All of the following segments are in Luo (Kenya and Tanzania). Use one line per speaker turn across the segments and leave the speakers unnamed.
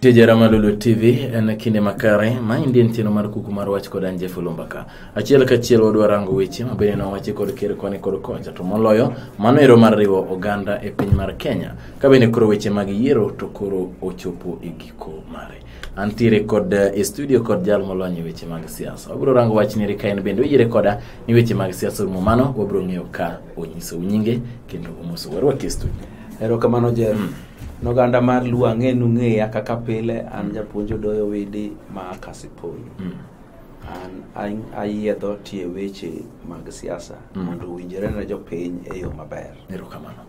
Tije Ramalulu TV en kinde makare ma indien cheno mar kuku mar wach kod anje fulumbaka. Achiel ka achiel wadwa rango weche ma bende nowachi kod ker koni kod kocha to moloyo mano ero mar riwo oganda e piny mar Kenya. Ka bende koro weche mag yiero to koro ochopo e giko mare. Antiere kod eh, e studio kod jal molony e weche mag siasa. Wabiro rango wach ni ka en bende oyiere koda ni weche mag siasa rumo mano wabiro ng'eyo ka onyiso nyinge kendo omoso warwaki e studio. Erokamano Jeff.
Noganda mar Luo ang'e nung'eya kaka pile an mm. japuonjo doyo widi ma Kasipoyo. Mm. An ayiedho tie weche mag siasa mm. mondo owinjore ne jopiny e yo maber. Erokamano.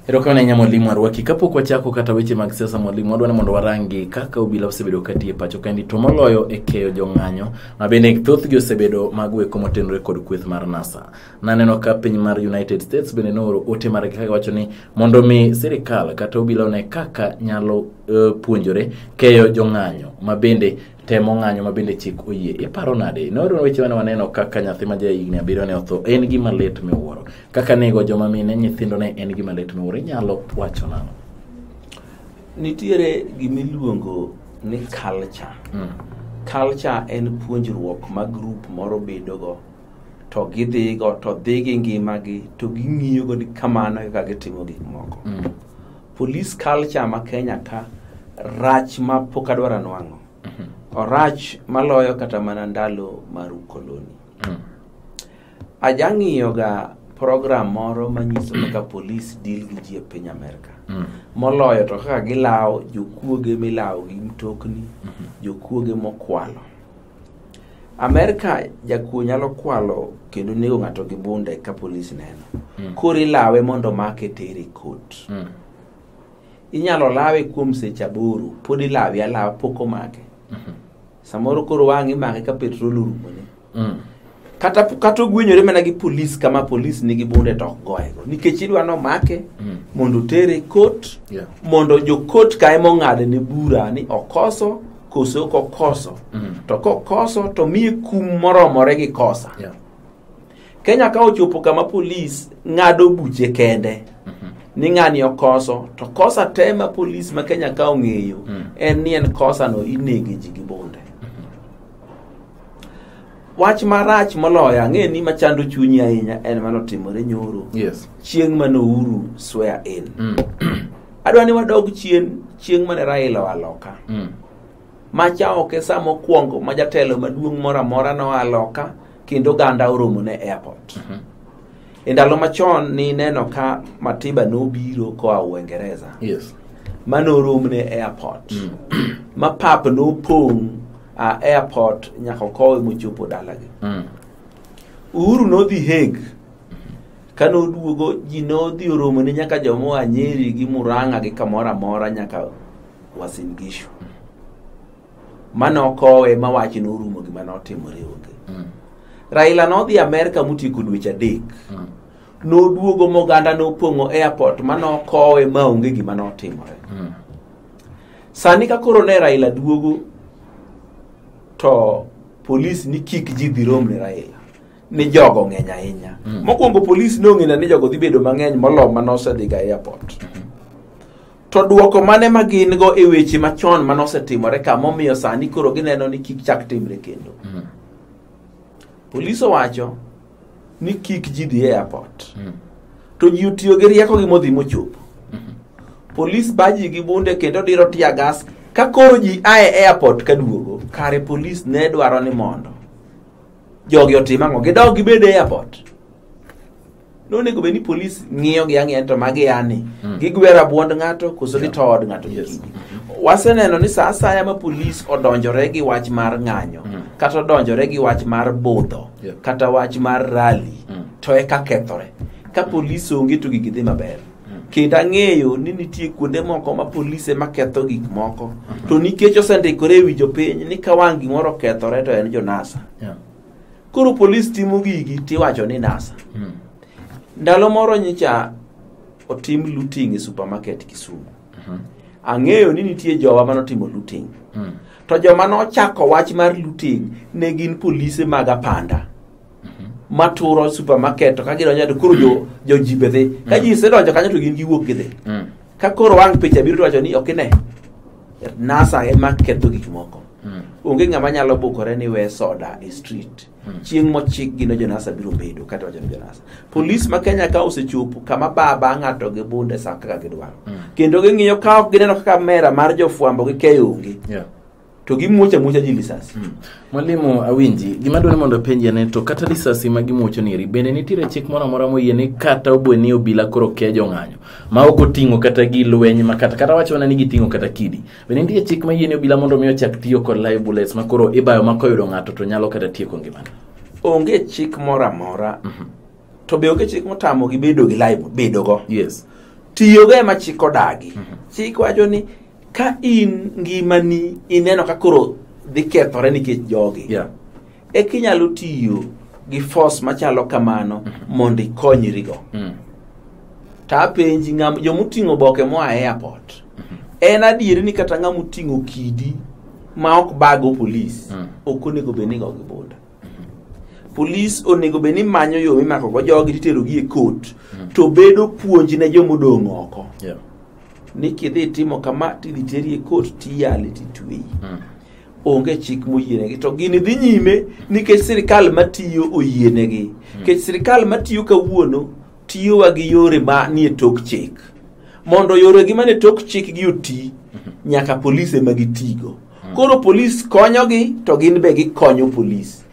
Erokamano ahinya mwalimu Arwaki. Kapok wachako kata weche mag siasa mwalimu, wadwa ni mondo warangi kaka obila osebedo kati e pacho kendi to moloyo e keyo jong'anyo ma bende thothgi osebedo mago eko motenore kod kweth mar NASA. Naneno ka piny mar United States bende nooro ote mar kaka wacho ni mondo mi sirikal kata obila one kaka nyalo uh, puonjore keyo jong'anyo ma bende temo ng'anyo ma bende chik oyie. Iparo nade? Nooro weche mane waneno kaka nyathi ma jahigni abiriyo ne otho en gima lit miwuoro. Kaka nego joma mine nyithindo ne en gima lit miwuoro. Inyalo wacho nang'o? Nitiere
gimiluongo ni culture. Mm. Culture en puonjruok ma grup moro bedogo to gidhigo to dhi gi ngimagi to ging'iyogo ni kamano e kaka gitimo gik moko mm. police culture ma kenya ka rach ma pok adwaro anwang'o mm-hmm. orach maloyo kata mana ndalo mar ukoloni mm. ajang'iyoga program moro manyiso kaka police deal gi ji e piny amerka mm. moloyo to kaka gilawo jokuoge milawo gi mtokni mm-hmm. jokuoge mokwalo Amerka jakuo nyalo kwalo kendo nego ng'ato gi bunde ka polis neno. Mm. Koro ilawe mondo make tere kot. Mm. Inyalo lawe kuom seche aboro, pod ilawe alawa pok omake. Mm -hmm. Samoro koro wang' imake ka petrol orumone. Mm. kata kata ogwenyore mana gi polis kama polis nigi bunde to ok goyego nikech idwa nomake mm. mondo otere kot yeah. mondo jokot ka ema ong'ade ne bura ni okoso koso ok okoso mm. to kokoso to miye kum moromore gi kosa yeah. kenya ka ochopo kama polis ng'ado buche kende mm -hmm. ni ng'ani okoso to kosa te ma polis ma kenya ka ong'eyo mm. en ni en kosano inege ji gi bunde wach marach moloyo ang'e ni machando chunyi ahinya en mano timore nyoro yes chieng' mane uhuru swear in mm. adwa ni wadog chien chieng' mane raila oa loka mm. macha ok e sa mokwongo ma jatelo maduong' moro amora noa loka kendo oganda oromo ne airport mm-hmm. E ndalo machon nineno ka Matiba nobiro koa Uingereza Yes. ma noromne e airport ma pap nopong' a airport nyaka okowe mochopo dalagi. Mm. Uhuru nodhi Hague ka noduogo ji nodhi oromone nyaka jomoa Nyeri gi Murang'a gi kamoro amora nyaka Uasin Gishu. mane okowe ma wache norumo gima notimore onge mm. raila nodhi amerka motieko dweche adek mm. noduogo moganda nopong'o airport ma nokowe ma onge gima notimore mm. sani ka koro ne raila duogo to polis ni kik ji dhi rom ne raila ni jogo ng'eny ahinya mm. mokwongo polis nong'ina ni jogo dhi bedo mang'eny molo ma nosedhiga airport mm -hmm. To dwoko mane ma gin go e weche machon mane osetimore ka momiyo sani koro gineno ni kik chak timre kendo? Mm. Polis owacho ni kik ji dhi e airport. Mm. To ji otiyo gi rieko gi modhi mochopo. Mm-hmm. Polis baji gi bunde kendo diro tia gas ka koro ji ae airport ka duogo. Kare polis ne dwaro ni mondo jogi otim ang'o? Gidog gibed e airport. nonego bed ni polis ng'iyo gi ang'iya to magi yani mm. gigwero abwond ng'ato koso yeah. gitood ng'ato yes. waseneno ni saa asaya ma polis odonjore gi wach mar ng'anyo mm. kata odonjore gi wach mar budho yeah. kata wach mar rali mm. to eka kethore ka mm. polis onge to gigi dhi maber mm. kendo ang'eyo ni nitie kuonde moko ma polis ema ketho gik moko mm-hmm. to nikech osendikore e wi jopiny ni ka wang' gimoro okethore to en jonasa yeah. koro polis timo gigi tiwacho ni nasa Mm. ndalo moro nyicha otim looting e supermarket kisumu Mhm. ang'eyo ni nitie jowa manotimo looting Mm. to joma nochako wach mar looting ne gin polise mag apanda maturo supermarket to ka gidonjo to koro jo- joji be dhi ka ji isedonjo kanyo to gin giwuok gidhi Mm. ka koro wang' picha biro to wacho ni ok ine NASA ema ketho gik moko. Mm. Onge ng'ama nyalo bukore ni we soda e street. Mm. Chieng' mochik gino jo NASA biro bedo kata wacho ni jo NASA. Polis ma Kenya ka osechopo kama baba ng'ato gi bunde sa kaka gidwaro. Mm. Kendo ging'iyo ka ok gineno kaka mera mar jofwambo gi keyo onge. Yeah. To gimuocha muocha ji lisasi. Mm. Mwalimu
Awinji, gima dwani mondo penji ane to kata lisasi ma gimuocho niri, bende nitiere chik moro amora moyie ni kata obwe ni obila koro kejo ng'anyo. ma ok oting'o kata gi lweny ma kata kata wacho mana ni giting'o kata kidi bende nitie chik ma yieni obila mondo mi ochak tiyo kod live bullets ma koro ibayo ma koyudo ng'ato to nyalo kata tieko ngimane onge chik
moro amora to be onge chik motamo gi bedo gi live bedo go yes tiyogo
ema
chik odagi chik wacho ni ka in ngimani ineno ka koro dhi kethore nikech jogi yeah e kinyalo tiyo gi force machalo kamano mhm. mondo ikonyrigo mm. to apenji jomoting'o boke moa e airport mhm. en adieri ni kata ng'ama oting'o kidi ma ok bago polis mm. ok onego bed ni go gi boda mhm. polis onego bed ni manyo yo mimakogo jogi titerogi e kot mm. to bedo puonj ne jomodong' oko ni kidhi timo kama tidhi teri e kot tiyale titweyi onge chik moyienegi to gini dhi nyime nikech sirikal matiyo oyienegi hmm. nikech sirikal matiyo kawuono tiyowa gi yore ma nie tok chik mondo yoregi manie tok chik gi oti hmm. nyaka polis ema gitigo hmm. koro polis konyogi to gin be gikonyo polis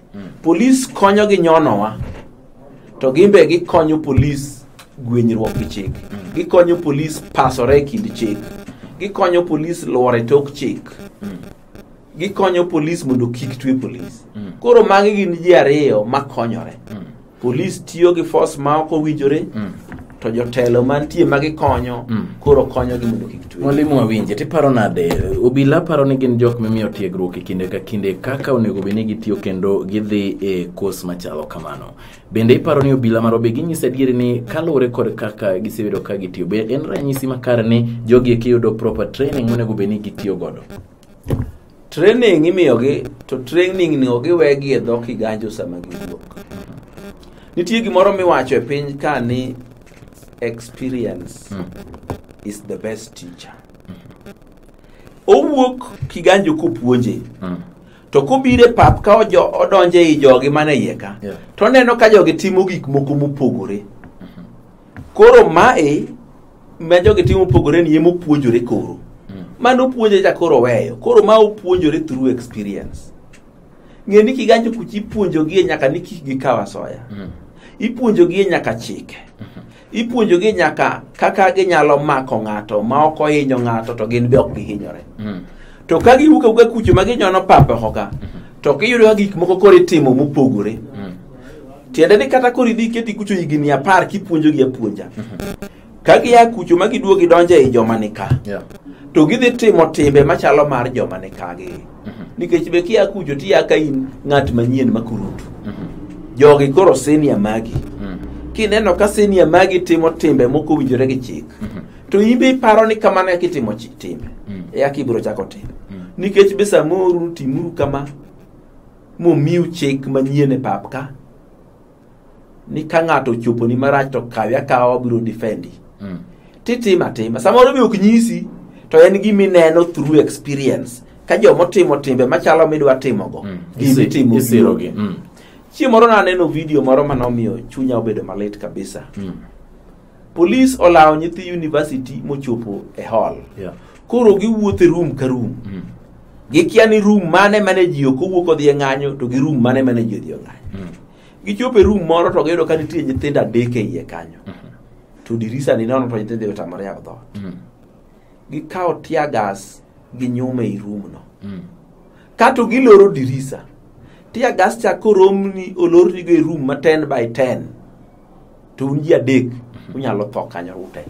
Polis konyo gi nyonowa to gimbe gikonyo polis gwenyruok gi chik. Gikonyo polis pasore e kind chik. Gikonyo polis luore tok chik. Gikonyo polis mondo kik twe polis. Koro magi gin ji ariyo makonyore. polis tiyo gi force ma ok owinjore mm. to jotelo mantie ma gikonyo mm. koro konyogi mondo kik twe mwalimu awinje tiparo
nade obila paro ni gin jok mimiyo tiegruok e kinde ka kinde kaka onego bed ni gitiyo kendo gidhi e kos machalo kamano bende iparo ni obila maro be ginyisa adieri ni kaluwore kod kaka gisebedo ka gitiyo be en ranyisi makare ni jogi eki yudo proper training monego bed ni gitiyo godo
training imiyogi to training ni ogiwegi e dho kiganjo sama giwuok nitie gimoro miwacho e piny ka ni experience mm. is the best teacher owuok kiganjo kopuonje mm. to kobire pap ka odonje i jogi mane iye ka yeah. to oneno ka jogi timo gik moko mopogore Koro mae ma jogi timo opogore ni ema opuonjore koro. Mm. Mano opuonje cha koro weyo. Koro ma opuonjore through experience. Ng'e ni kiganjo kuchi ipuonjogi nyaka ni kik gikaw asoya. Mm. Ipuonjogi nyaka chike. Mm -hmm. Ipuonjogi nyaka kaka ginyalo mako ng'ato ma ok ohinyo ng'ato to gin be ok gihinyore. Mm. to ka giwuok awuoka kucho ma ginyono pap oko ka to kiyudo ka gik moko koro itimo mopogore tiende ni kata koro idhi iketi kucho higni apar kipuonjogi apuonja ka gia kucho ma giduogo gidonjo ei joma ni ka Yeah. to gidhi timo timbe machalo mar joma ni kagi nikech be kia kucho tiya ka in ng'at manyien makurutu jogi koro senia magi kineno ka senia magi timo timbe moko winjore gi chik to in be iparo ni kamano eka itimo chi- time Mm. eka ibiro chako timo Mm. nikech be samoro utimuru kama momiu chik manyien e pap ka ni ka ng'ato ochoponi marach to kawe akawa wabiro defendi Mm. titimo atima samoro be ok nyisi to en gima ineno through experience ka joma otimo timbe machalo midwa timogo Mm. gima Isi- itimo isirogi. Mm. chieng' moro naneno video moro mane omiyo chunya obedo malit kabisa Mm. Polis olawo nyithi university mochopo e hall. Yeah. Koro giwuotho e room ka room. Mm. Gikia ni room mane mane ji ok owuok odhi e ng'anyo to gi room mane mane ji odhi e ng'anyo. Mm. Gichopo e room moro to giyudo ka nitie nyithindo adek e iye kanyo. Mm -hmm. To dirisa ni nono to nyithindo otamore yako dhoot. Mm. Gikawo tear gas gi nyume i room no. Mm. Kato giloro dirisa. Tear gas cha koromni olorni go e room ma 10 by 10. to un ji adek mhm. unyalo tho kanyo ute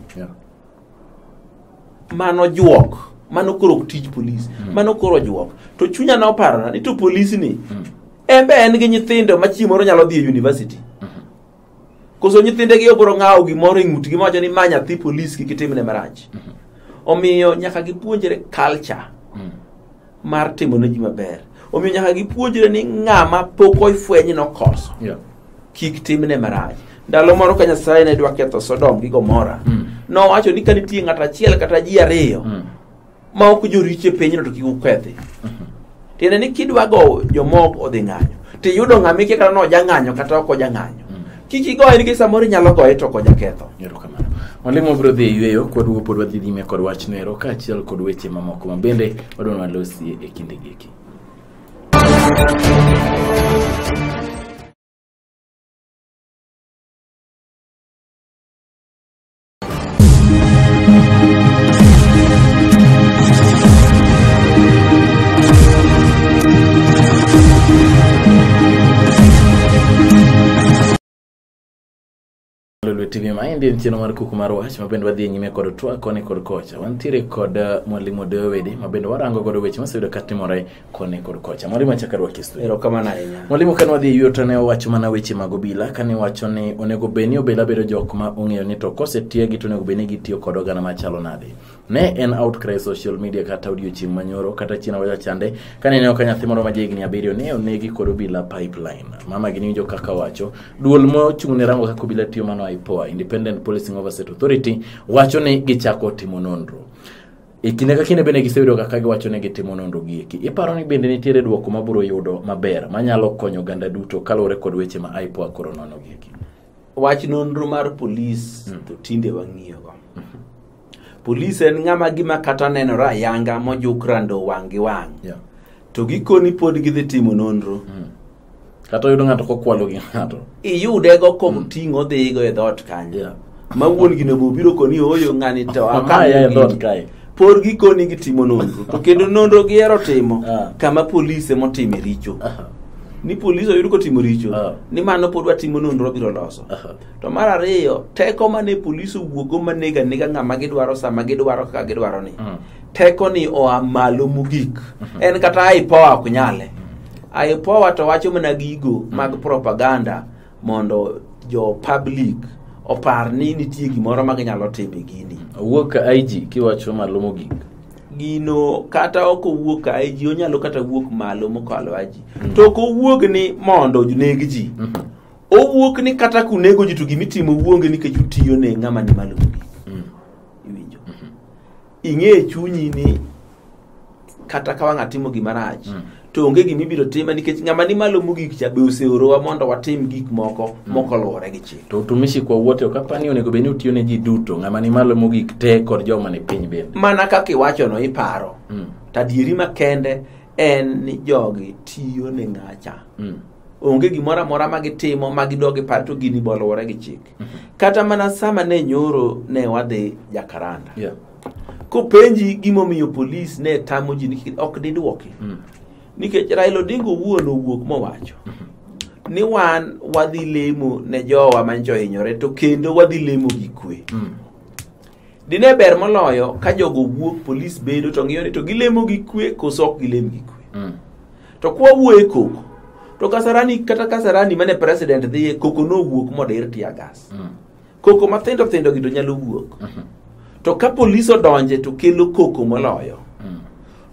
mano juok mano koro tij polis mhm. mano koro juok to chunya na oparona ni to polis ni mhm. embe en gi nyithindo ma chieng' moro nyalo dhi e university koso nyithindegi obro ng'awo gimoro e ng'utgi mawacho ni ma nyathi polis kik itimne marach omiyo nyaka gipuonjre culture mar timo ne ji maber omiyo nyaka gipuonjre ni ng'ama pok ofweny nokoso Yeah. kik timne marach ndalo moro ka nyasaye ne dwa ketho sodom gi gomora Mm. nowacho ni ka nitie ng'ato achiel kata ji ariyo Mm. ma ok joricho e pinyno to kik ukethi tiende ni kidwa go jomoko odhi ng'anyo tiyudo ng'ama ikia kata nojang'anyo kata ok ojang'anyo kik igoye nikech samoro inyalo goye to okonya ketho erokamano mwalimu
wabiro dhi e yueyo kwaduogo pod wadhi nyime kod wachno ero kaachiel kod weche mamoko ma bende wadwa walosie e kinde giki Lolwe TV ma endi en chenro mar kuku mar wach ma bende wadhi e nyime kod twak koni kod kocha. Wantiere kod uh, mwalimu Dewedi ma bende warango godo weche moseyudo katimore koni kod kocha mwalimu achak arwaki e studio erokamano ahinya mwalimu
kane wadhi e yuto
ne owacho mana weche mag obila kane wacho ni onego bed ni obila bedo jok ma ong'eyo ni to kosetiegi to onego bed ni gitiyo kod oganda machalo nade ne en outcry social media kata odiochieng' manyoro kata chieng' waja chande kane ineno ka nyathi moro ma jahigni abiriyo ne onegi kod obila pipeline mama gi niwinjo kaka wacho duol mochung' ne rango kaka obila tiyo mano IPOA Independent Policing Oversight Authority wacho ni gichako timo nonro E kinde ka kinde bende giseyudo kaka giwacho ni gitimo nonrogi eki. Iparo ni bende nitiere dwoko ma biro yudo maber manyalo konyo oganda duto kaluwore kod weche ma IPOA koro nonogi eki? Wach nonro
mar polis hmm. to tinde wang'iyogo. Mhm. Polis en ng'ama gima kata nenore ayanga mojuk rando wang' gi wang'. To gikoni pod gidhi timo nonro. Hmm. kata
oyudo ng'ato kokwalo gi ng'ato iyudego mm.
koting'o dhigo e dhot kanyo yeah. ma wuon gino bo biro koni oyo ng'ani to amaya e dhot kae
por gikoni
gitimo nonro to kendo nonro gihero timo ah. kama polis emotime richo ni polis oyud kotimo richo ah. ni mano pod watimo nonro biro loso to mar ariyo teko mane polis owuogo manega nega ng'ama gidwaro sama gidwaro kaka gidwaro ni mm. teko ni oa malo mogik mm-hmm. en kata ipoa ok nyale IPOA to wacho mana gigo mag propaganda mondo jo public opar ni nitie gimoro ma ginyalo timo e gini. Owuok ka IG
kiwacho malo mogik. Gino
kata ok owuok ka IG onyalo kata wuok malo mokalo IG. Mm. To ok owuog ni mondo oneg ji. Mm -hmm. Owuok ni kata kunego ji to gimitimo wuonge nikech utiyo ne ng'ama ni malo mogik. ing'e chunyi ni kata ka wang' atimo gima rach mm. to onge gima ibiro tima nikech ng'ama ni malo mogik cha be oseorowa mondo watim gik moko mm. moko luwore gi chik to utumishi kwa wote ok
apani onego bed ni utiyo ne ji duto ng'ama ni malo mogik te kod joma ni piny bende mana kaka iwachono
iparo mm. to adieri makende en ni jogi tiyo ne ng'acha mm. onge gimoro amora ma gitimo ma gidog gipar to gini boluwore gi chik kata mana sama ne nyoro ne wadhi jakaranda Yeah. kopenji gimomiyo polis ne tamo ji nikech ok didwoki Mm. nikech raila odinga owuon owuok mowacho ni wan wadhi lemo ne jowa manjo hinyore to kendo wadhi lemo gi kwe Mm. Dine ber moloyo ka jogo wuok polis bedo to ng'iyo ni to gilemo gi kwe koso ok gilem gi kwe. Mm. To kwa wuoye koko to Kasarani kata Kasarani mane president dhiye koko no wuok modir tia gas. Mm. Koko mathindo thindo gi to nyalo wuok. Mm -hmm. To ka polis odonje to kelo koko moloyo. Mm.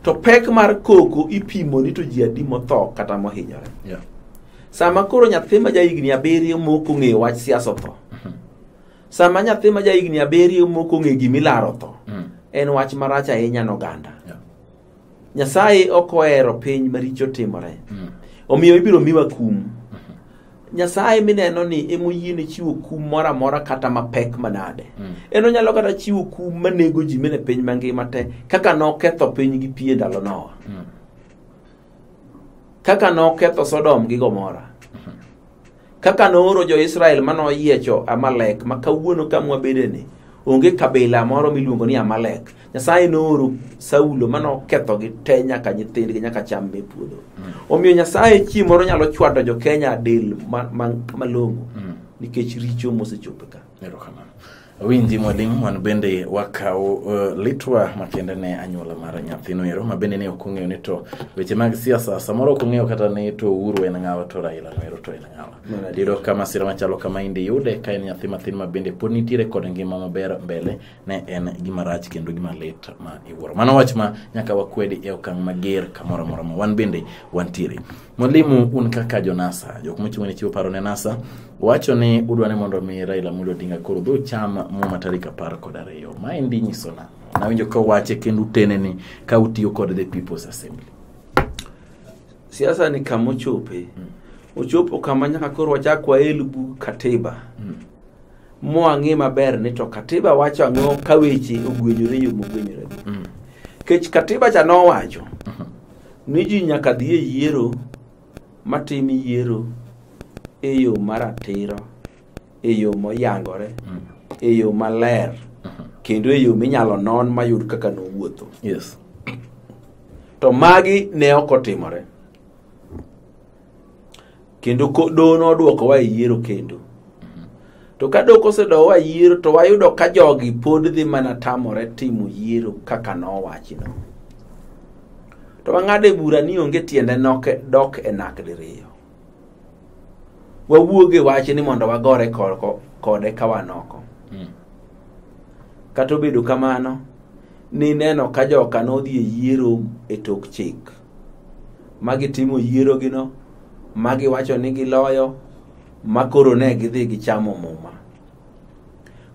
To pek mar koko ipimo ni to ji adi motho kata mohinyore. Yeah. Sama koro nyathi ma ja higni abiriyo moko ng'eyo wach siasa otho. Mm -hmm. Sama nyathi ma ja higni abiriyo moko ng'e gima ilaro tho, Mm. en wach marach ahinya n'oganda. Yeah. Nyasaye ok ohero piny maricho timore. Mm. Omiyo ibiro miwa kum. Nyasaye mineno ni ema oyiene chiwo kum moro amora kata mapek manade. Mm. En onyalo kata chiwo kum manego ji mene piny mangima te kaka noketho piny gi pi e ndalo Noa. Mm. Kaka noketho Sodom gi Gomora. Kaka nooro jo-Israel ma noyiecho Amalek ma kawuono ka mwabedeni, onge kabila moro miluongo ni Amalek. Nyasaye nooro Saulo ma nokethogi te nyaka nyithindgi nyaka cham me puodho. Omiyo Nyasaye chieng' moro nyalo chwado jo-Kenya del ma- ma- malong'o nikech richo mosechopo ka. Erokamano.
Winji Mwalim, wan bende wakawo uh, litwa makende ne anyuola mar nyathino ero ma bende ne ok ong'eyo ni to weche mag siasa samoro ok ong'eyo kata ni to Uhuru en ng'awa to Raila no ero to en ng'awa. Diro ka masira machalo kama indi yude ka en nyathi mathin ma bende pod nitiere kod ngima maber mbele ne en gima rach kendo gima lit ma iwuoro mano wach ma nyaka wakwedi e okang' mager kamoro amora ma wan bende wantiere mwalimu un kaka jonasa jok mochung' ne chiwo paro ne nasa wacho ni udwa ni mondo mi raila amolo odinga koro dhi ocham muma tarik apar kod ariyo ma endi nyiso na nawinjo ka wache kendo utene ni ka utiyo kod the people's assembly siasa
ni kama ochope ochopo kama nyaka koro wachak wael bug katiba mwang'e maber ni to katiba wacho ang'o ka weche ogwenyore yo mogwenyore mm. kech katiba cha nowacho uh-huh. ni ji nyaka dhi e yiero matim yiero e yo maratiro e yo moyangore mm. e yo maler uh-huh. kendo e yo minyalo non mayud kaka nowuotho yes. to magi ne ok otimore kendo ko- doho nodwokowa e yiero kendo to ka doho kosedowa e yiero to wayudo ka jogi pod dhi mana tamore timo yiero kaka nowachno to wang'ado e bura ni onge tiende nok e- dok e nak diriyo wawuog e wach ni mondo wagore korko- kode ka wanoko Mm. kata obedo kamano nineno ka joka nodhi e yiero e tok chik ma gitimo yierogino ma giwacho ni giloyo ma koro ne gidhi gichamo muma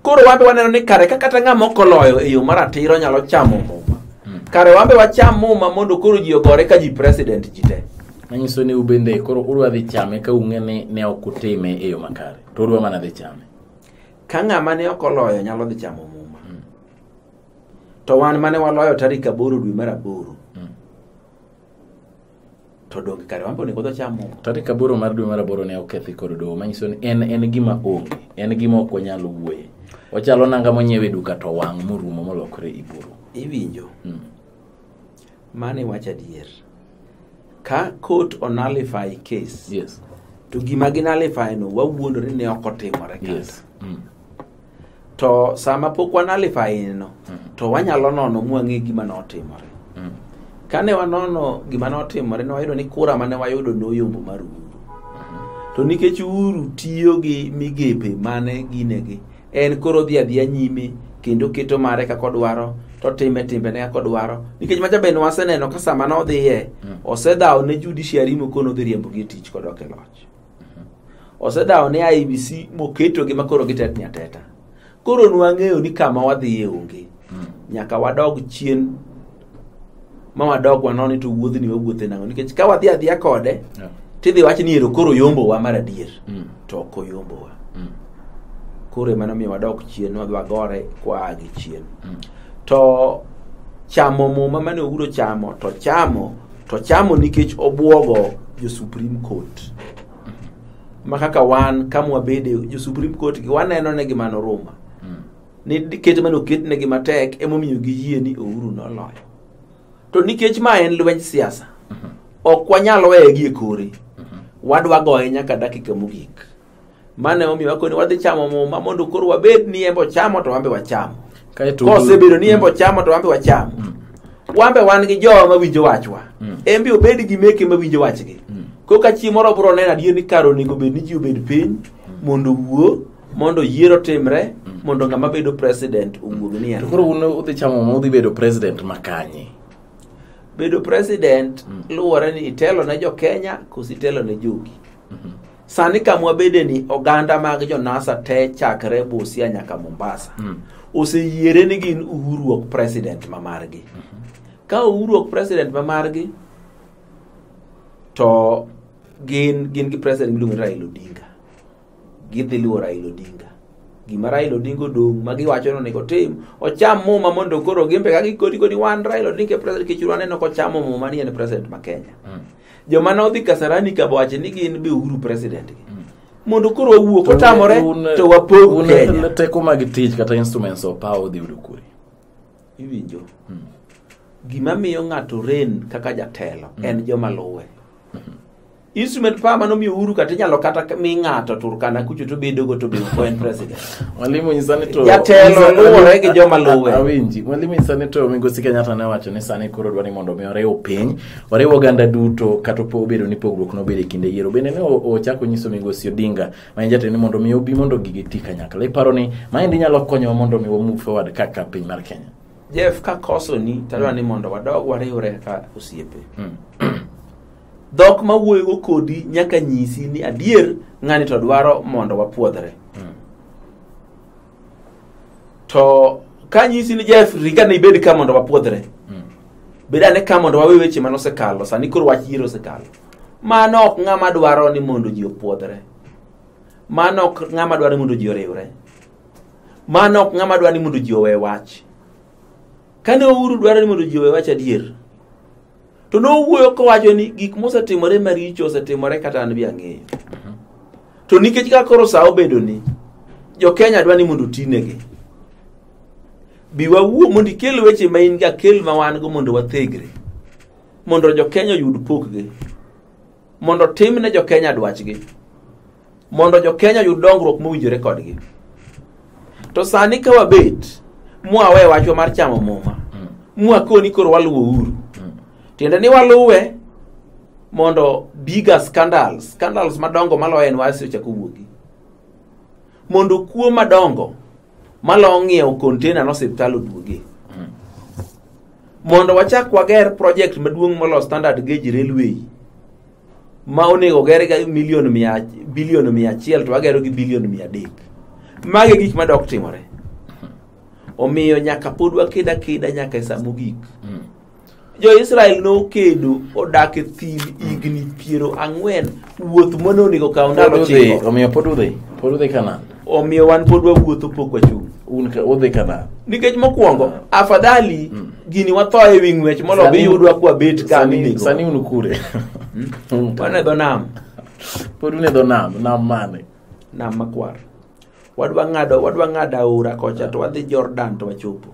koro wambe waneno ni kare ka kata ng'ama ok oloyo e yo maratiro nyalo chamo muma kare wambe wacham muma mondo koro ji ogore ka ji president ji te manyiso ni ubende
koro udwa dhi chame ka ung'e ni ne ok utime e yo makare to udwa mana dhi chame ka ng'ama
ne ok oloyo nyalo dhi chamo muma to wan mane waloyo tarik aboro dwe mar aboro Mm. to donge kare wambe onego dho chamo tarik aboro mar dwe mar
aboro ne okethi kod doho manyiso ni en en gima onge en gima ok wanyal wuoye ochalo nanga monyiew e duka to wang' morumo molokre iburu iwinjo Mm.
mane wacho adier ka court onalify case yes to
gima
ginalify no wawuondore ni ok otimore kata yes mm. to sama pok wanalifaineno to wanyalo nono mwang'e gima notimore Mm. kane wanono gima notimore ne wayudo ni kura mane wayudo noyombo mar uhuru to nikech uhuru tiyo gi migepe mane ginegi en koro dhi adhiya nyime kendo keto mare kaka odwaro to time timbene kaka odwaro nikech macha bende waseneno ka sama nodhiye Mm. osedhawo ne judiciary mokono dhi riembogi e tich kodok e loch osedawo ne IBC moketogi makoro gitetni ateta. Koro nwang'eyo ni kama wadhiye onge. Nyaka wadog chien ma wadog wanon ni to wuodhni wawuothe nang'o nikech ka wadhi adhiya kode Yeah. tidhi wach ni ero koro yombowa mar adier Mm. to ok oyombowa Mm. koro ema nomiyo wadok chien wadhi wagore kwaa gi chien Mm. to chamo muma mane oguro chamo to chamo to chamo nikech obwogo jo Supreme Court ma kaka wan ka mwabede jo Supreme Court gi waneno ne gima noruma ni ket mane oketnegi matek emomiyo giyie ni Ouru noloyo to nikech ma en lwenj siasa ok wanyal weye gi e kore wadwa goye nyaka dakika mogik mane omiyo wakoni wadhi chamo muma mondo koro wabed ni embo chamo to wambe wacham Kaeto kosebedo ni embo chamo to wambe wacham wambe wan gi jowa mawinjo wachwa Mm. embe obed gi meke mawinjo wachgi Mm. koka chi moro bro neno adier ni kar onego bed ni ji obed piny mondo wuo mondo yiero timre mondo ng'ama bedo president owuog ni To en koro un udhi chamo ma
udhi bedo president ma kanye?
bedo president luwore ni itelo ne jo kenya koso itelo ne jogi sani kamwa bede ni oganda mag jonasa te chakre busia nyaka mombasa mm. oseyiere ni gin uhuru ok president ma margi mm -hmm. ka uhuru ok president ma margi to gin gin gi president miluongo ni raila odinga gidhi luwo raila odinga gima raila odinga odong' ma giwacho ni onego otim ocham muma mondo koro gimbe ka gikodi kodi wan raila odinga e president kichuru aneno kochamo muma ni en president ma kenya mm. joma ne odhi kasarani ka wacho ni gin be uhuru president gi mondo koro wawuo kotamore Un- to wapog un- kenya teko mag tich kata
instruments of power odhi yudo kure iwinjo
gima miyo ng'ato ren kaka jatelo en joma luwe instrument power mano miyo uhuru kata inyalo kata mi ng'ato turkana kucho to bedogo to bedo ko en president mwalimu nyisa ni
to Jatelo nyisa- luwore
gi joma luwe. A- awinji mwalimu nyisa ni
to migosi kenyatta ne wacho ni sani koro dwa ni mondo mi oriw piny oriwo oganda duto kata opo obedo ni pogruok nobedo e kinde yiero bende ne o- ochako nyiso migosi odinga ma en jatend ni mondo mi obi mondo gigi ti kanyakla iparo ni maendi nyalo konyowa mondo mi wamove forward kaka piny mar kenya jeff ka
kosoni tadwa ni mondo wadog wariwre kaka osiepe Mm. dhok ma wuoyogo kodi nyaka nyisi ni adier ng'ani to dwaro mondo wapwodhre Mm. to ka nyisi ni jeff ringa ne ibed ka mondo wapwodhre bed ane ka mondo wawe weche mane osekalo sani koro wach yiero osekalo mano ok ng'ama dwaro ni mondo ji opwodhre mano ok ng'ama dwaro ni mondo ji oriwre mano ok ng'ama dwaro ni mondo ji owe wach kane ouru dwaro ni mondo ji owe wach adier to nowuoyo kowacho ni gik mosetimore maricho osetimore kata an bi ang'eyo to nikech ka koro sa obedo ni jo kenya dwa ni mondo otinegi bi wawuo mondo ikel weche ma in ga kel ma wan go mondo wathegre mondo jo kenya oyud pokgi mondo tim ne jokenya dwachgi mondo jokenya oyud dongruok mowinjore kodgi to sani ka wabet mwawe wachwa mar chamo muma mm. mwakoni koro waluwo uru mm. tiende ni waluwe mondo biga scandals scandals madongo maloyo en wasi ochako wuogi mondo kuo madongo malong' ng'iewo container no siptal oduoge mondo wachak wager project maduong' molo standard gauge railway ma onego ger ga milion mia bilion mia achiel to wagero gi bilion mia adek mage gik madok timore omiyo nyaka pod wakeda keda nyaka e sa mogik jo-israel nokedo odak e thim higni piero ang'wen wuoth mane onego kaw ndalo Pod udhi, chiko omiyo pod udhi
pod udhi kanan omiyo wan pod
wawuotho pok wachung' un ka- udhi kanan
nikech mokwongo
afadhali gini watho e wi ng'wech molo Sani- biyudwa kwabet ka sani minego sani un kure Un
ka- wane
dho nam pod un e
dho nam nam mane nam makwar
wadwa ng'ado wadwa ng'ado aora kocha to wadhi jordan to wachopo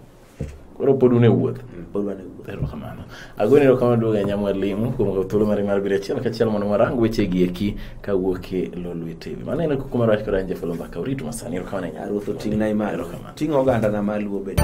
koro pod
un e wuoth pod wan e wuoth.
erokamano agoni
erokamano duogo e nyamwa ling'o kuom kawo thuolo mari mar biro achiel kachiel mondo warang weche gi eki kawuok e lolwe tv mano en kuku mar wach kod an jafalo mbaka uritu masani erokamano e nyar Ruoth oting'na
e malo. Erokamano. Ting' oganda na maluo
bende.